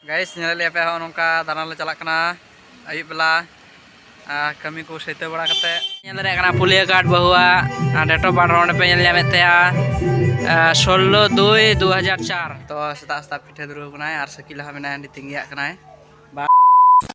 ᱜᱟᱭᱤᱥ ᱧᱮᱞᱮᱫ ᱞᱮᱭᱟ ᱯᱮ ᱦᱚᱸ ᱱᱚᱝᱠᱟ ᱫᱟᱬᱟᱱ ᱞᱮ ᱪᱟᱞᱟᱜ ᱠᱟᱱᱟ ᱟᱹᱭᱩᱵ ᱵᱮᱞᱟ ᱠᱟᱹᱢᱤ ᱠᱚ ᱥᱟᱹᱛᱟᱹᱣ ᱵᱟᱲᱟ ᱠᱟᱛᱮ ᱧᱮᱞ ᱫᱟᱲᱮᱭᱟᱜ ᱠᱟᱱᱟ ᱯᱩᱞᱤᱭᱟᱹ ᱜᱟᱨᱰ ᱵᱟᱹᱦᱩᱣᱟᱜ ᱰᱮᱴ ᱚᱯᱷ ᱵᱟᱨᱛᱷ ᱦᱚᱸ ᱚᱸᱰᱮ ᱯᱮ ᱧᱮᱞ ᱧᱟᱢᱮᱫ ᱛᱟᱭᱟ ᱥᱳᱞᱞᱳ ᱫᱩᱭ ᱫᱩ ᱦᱟᱡᱟᱨ ᱪᱟᱨ ᱛᱚ ᱥᱮᱛᱟᱜ ᱥᱮᱛᱟᱜ ᱯᱤᱴᱷᱟᱹ ᱫᱩᱨᱟᱹᱣ ᱠᱟᱱᱟᱭ ᱟᱨ ᱥᱟᱹᱠᱤᱞ ᱦᱚᱸ ᱢᱮᱱᱟᱭᱟ ᱚᱸᱰᱮ ᱛᱤᱸᱜᱤᱭᱟᱜ ᱠᱟᱱᱟᱭ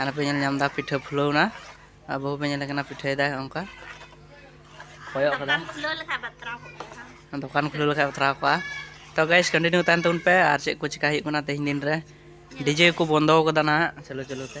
ᱟᱨ ᱯᱮ ᱧᱮᱞ ᱧᱟᱢ ᱮᱫᱟ ᱯᱤᱴᱷᱟᱹ ᱯᱷᱩᱞᱟᱹᱣ ᱮᱱᱟ ᱟᱨ ᱵᱟᱹᱦᱩ ᱯᱮ ᱧᱮᱞ ᱠᱟᱱᱟ ᱯᱤᱴᱷᱟᱹᱭᱮᱫᱟᱭ ᱚᱱᱠᱟ ᱠᱚᱭᱚᱜ ᱠᱟᱫᱟ ᱫᱚᱠᱟᱱ ᱠᱷᱩᱞᱟᱹᱣ ᱞᱮᱠᱷᱟᱡ ᱵᱟᱛᱨᱟᱣ ᱠᱚᱜᱼᱟ ᱛᱚ ᱜᱟᱭᱥ ᱠᱚᱱᱴᱤᱱᱤᱭᱩ ᱛᱟᱦᱮᱱ ᱛᱟᱵᱚᱱ ᱯᱮ ᱟᱨ ᱪᱮᱫ ᱠᱚ ᱪᱤᱠᱟ ᱦᱩᱭᱩᱜ ᱠᱟᱱᱟ ᱛᱮᱦᱮᱧ ᱫᱤᱱ ᱨᱮ ᱰᱤᱡᱮ ᱠᱚ ᱵᱚᱱᱫᱚ ᱠᱟᱫᱟ ᱱᱟᱦᱟᱜ ᱪᱟᱹᱞᱩ ᱪᱟᱹᱞᱩ ᱛᱮ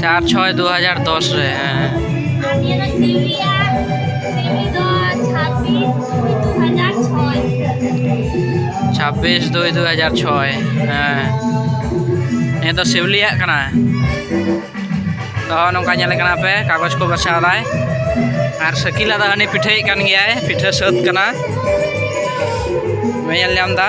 ᱪᱟᱨ ᱪᱷᱚᱭ ᱫᱩ ᱦᱟᱡᱟᱨ ᱫᱚᱥ ᱨᱮ ᱦᱮᱸ ᱪᱷᱟᱵᱵᱤᱥ ᱫᱩᱭ ᱫᱩ ᱦᱟᱡᱟᱨ ᱪᱷᱚᱭ ᱦᱮᱸ ᱱᱤᱭᱟᱹ ᱫᱚ ᱥᱤᱣᱞᱤᱭᱟᱜ ᱠᱟᱱᱟ ᱛᱚ ᱱᱚᱝᱠᱟ ᱧᱮᱞ ᱠᱟᱱᱟ ᱯᱮ ᱠᱟᱜᱚᱡᱽ ᱠᱚ ᱵᱟᱪᱷᱟᱣ ᱫᱟᱭ ᱟᱨ ᱥᱟᱹᱠᱤᱞᱟ ᱫᱚ ᱦᱟᱹᱱᱤ ᱯᱤᱴᱷᱟᱹᱭᱮᱫ ᱠᱟᱱ ᱜᱮᱭᱟᱭ ᱯᱤᱴᱷᱟᱹ ᱥᱟᱹᱛ ᱠᱟᱱᱟ ᱧᱮᱞ ᱧᱟᱢ ᱮᱫᱟ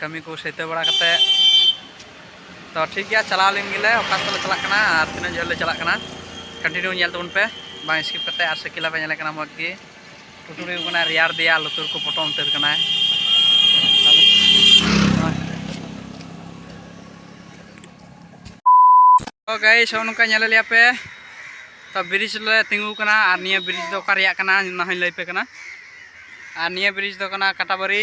ᱠᱟᱹᱢᱤ ᱠᱚ ᱥᱟᱹᱛᱟᱹ ᱵᱟᱲᱟ ᱠᱟᱛᱮ ᱛᱚ ᱴᱷᱤᱠ ᱜᱮᱭᱟ ᱪᱟᱞᱟᱣ ᱞᱮᱱ ᱜᱮᱞᱮ ᱚᱠᱟ ᱥᱮᱫ ᱞᱮ ᱪᱟᱞᱟᱜ ᱠᱟᱱᱟ ᱟᱨ ᱛᱤᱱᱟᱹᱜ ᱡᱷᱟᱹᱞ ᱞᱮ ᱪᱟᱞᱟᱜ ᱠᱟᱱᱟ ᱠᱚᱱᱴᱤᱱᱤᱭᱩ ᱧᱮᱞ ᱛᱟᱵᱚᱱ ᱯᱮ ᱵᱟᱝ ᱥᱠᱤᱯ ᱠᱟᱛᱮ ᱟᱨ ᱥᱟᱹᱠᱤᱞᱟ ᱯᱮ ᱧᱮᱞᱮ ᱠᱟᱱᱟ ᱢᱚᱡᱽ ᱜᱮ ᱴᱩᱴᱩᱨᱤ ᱠᱟᱱᱟ ᱨᱮᱭᱟᱲ ᱫᱮᱭᱟ ᱞᱩᱛᱩᱨ ᱠᱚ ᱯᱚᱴᱚᱢ ᱩᱛᱟᱹᱨ ᱠᱟᱱᱟᱭ ᱛᱚ ᱜᱟᱭᱤᱥ ᱦᱚᱸ ᱱᱚᱝᱠᱟ ᱧᱮᱞ ᱞᱮᱭᱟ ᱯᱮ ᱛᱚ ᱵᱨᱤᱡᱽ ᱞᱮ ᱛᱤᱸᱜᱩ ᱠᱟᱱᱟ ᱟᱨ ᱱᱤᱭᱟᱹ ᱵᱨᱤᱡᱽ ᱫᱚ ᱚᱠᱟ ᱨᱮᱭᱟᱜ ᱠᱟᱱᱟ ᱚᱱᱟ ᱦᱚᱸᱧ ᱞᱟᱹᱭ ᱯᱮ ᱠᱟᱱᱟ ᱟᱨ ᱱᱤᱭᱟᱹ ᱵᱨᱤᱡᱽ ᱫᱚ ᱠᱟᱱᱟ ᱠᱟᱴᱟᱵᱟᱹᱨᱤ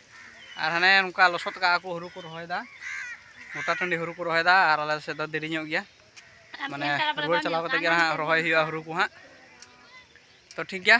ᱟᱨ ᱦᱟᱱᱮ ᱱᱚᱝᱠᱟ ᱞᱚᱥᱚᱫ ᱠᱟᱜᱼᱟ ᱠᱚ ᱦᱩᱲᱩ ᱠᱚ ᱨᱚᱦᱚᱭᱮᱫᱟ ᱜᱚᱴᱟ ᱴᱟᱺᱰᱤ ᱦᱩᱲᱩ ᱠᱚ ᱨᱚᱦᱚᱭᱮᱫᱟ ᱟᱨ ᱟᱞᱮ ᱥᱮᱫ ᱫᱚ ᱫᱮᱨᱤ ᱧᱚᱜ ᱜᱮᱭᱟ ᱢᱟᱱᱮ ᱨᱩᱣᱟᱹᱲ ᱪᱟᱞᱟᱣ ᱠᱟᱛᱮ ᱜᱮ ᱦᱟᱸᱜ ᱨᱚᱦᱚᱭ ᱦᱩᱭᱩᱜᱼᱟ ᱦᱩᱲᱩ ᱠᱚ ᱦᱟᱸᱜ ᱛᱚ ᱴᱷᱤᱠ ᱜᱮᱭᱟ